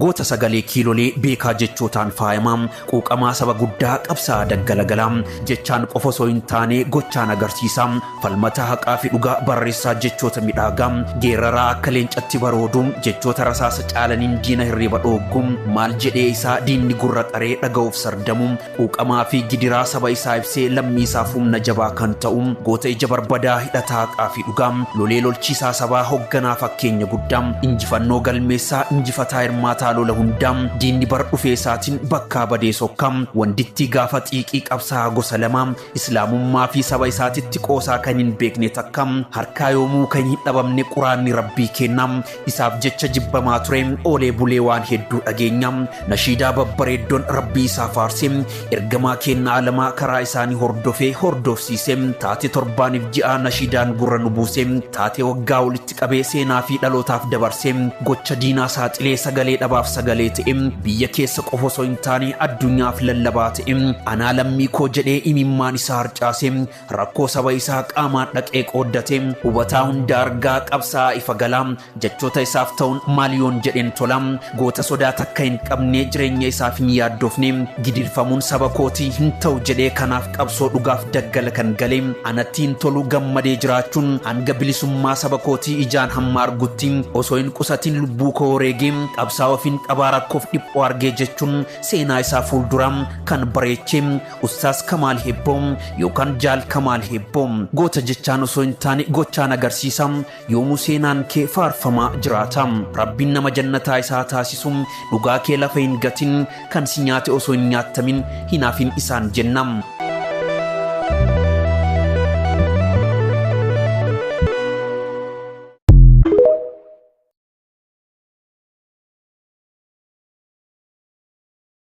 Goota sagalee kiilolee beekaa jechootaan faayamaa, quuqamaa saba guddaa qabsaa'aa daggalagalaa, jechaan qofa osoo hin taane gochaan agarsiisaa, falmataa haqaa fi dhugaa barreessaa jechoota midhaagaa, geeraraa akka leencatti baroodu, jechoota rasaasa caalaniin diina hirriba dhooggu, maal jedhee isaa diinni gurra qaree dhaga'uuf sardamu, Quuqamaa fi gidiraa saba isaa ibsee lammii isaaf humna jabaa kan ta'u, goota ija barbadaa, hidhataa haqaa fi dhugaa, lolee lolchiisaa sabaa, hogganaa fakkeenya guddaa, injifannoo galmeessaa, injifataa hirmaataa lola hundaa, diinni bara dhufee isaatiin bakkaa badee sokkaa, wandittii gaafa xiiqii qabsaa'aa gosa lamaa, Islaamummaa fi saba isaatitti qoosaa kan hin beekne takka harkaa yoomuu kan hin dhabamne quraanni rabbii keenna isaaf jecha jibbamaa ture oolee bulee waan hedduu dhageenya nashiidaa babbareeddon rabbii isaa faarse ergamaa keenna alamaa karaa isaanii hordofee hordofsiise taate torbaaniif ji'aa nashiidaan gurra nu buuse taate waggaa walitti qabee seenaa fi dhalootaaf dabarsee gocha diinaa saaxilee sagalee dhabaaf sagalee ta'e biyya keessa qofa osoo hin taane addunyaaf lallabaa ta'e anaa lammii koo jedhee imimmaan isaa harcaase rakkoo saba isaa qaamaan dhaqee qooddate hubataa hunda argaa qabsaa'aa ifa galaa jechoota isaaf ta'uun maal yoon jedheen tola Goota sodaa takka hin qabne jireenya isaaf hin yaaddofne gidirfamuun saba kootii hin ta'u jedhee kanaaf qabsoo dhugaaf daggala kan gale anatti hin tolu gammadee jiraachuun hanga bilisummaa saba kootii ijaan hamma argutti osoo hin qusatiin lubbuu koo wareegee qabsaa ofiin qabaa rakkoof dhiphoo argee jechuun seenaa isaa fuulduraa kan bareechee ustaas kamaal hebboo yookaan jaal kamaal hebboo goota jechaan osoo hin taane gochaan agarsiisa Yoomuu seenaan kee faarfamaa jiraata. Rabbiin nama jannataa isaa haa taasisu. Dhugaa kee lafa hin gatin. Kan si nyaate osoo hin nyaattamin hin hafin isaan jenna.